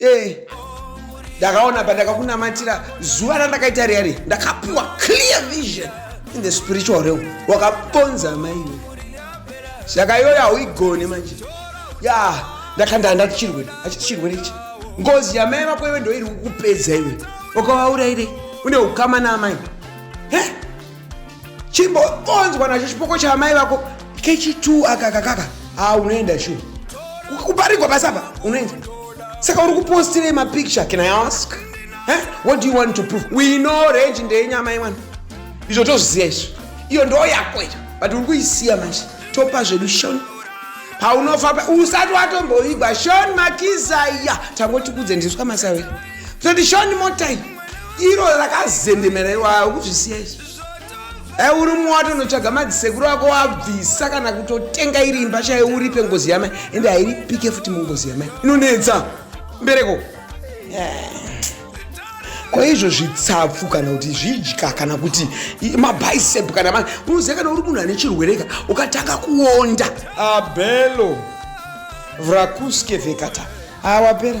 Eh, ndakaona pandakakunamatira zuva randakaita riya riya ndakapiwa clear vision in the spiritual realm wakaponza amaiwe saka iyoyo hauigone manje ya ndakanda handati chirwere hachiti chirwere ichi ngozi yamai vako iwe ndoiri kukupedza iwe ukavauraire une ukama naamai he chimbonzwa nacho chipoko chaamai vako kechitu aka kakaka ha unoenda shu kuparigwa basi apa unoenda saka uri kupostirei mapicture can i ask eh? what do you want to prove we know range ndeyenyama imwana izvo tozviziva izvo iyo ndo yako ita but uri kuisiya manje topa zvedu shon paunofa usati watomboigwa shon makizaya tangotikudze ndiswa masawe toti shon motai iro rakazendemera iwa ukuzvisiya izvo e uri mumwe watonotsvaga madzisekuru ako wabvisa kana kutotenga iri imba chayo uripe ngozi yamai ende hairipike futi mungozi yamai inonetsa mbereko ko izvo zvitsapfu kana kuti zvidya kana kuti mabicep kana ma unoziva kana uri munhu ane chirwereka ukatanga kuonda abelo vrakuskevekata awapera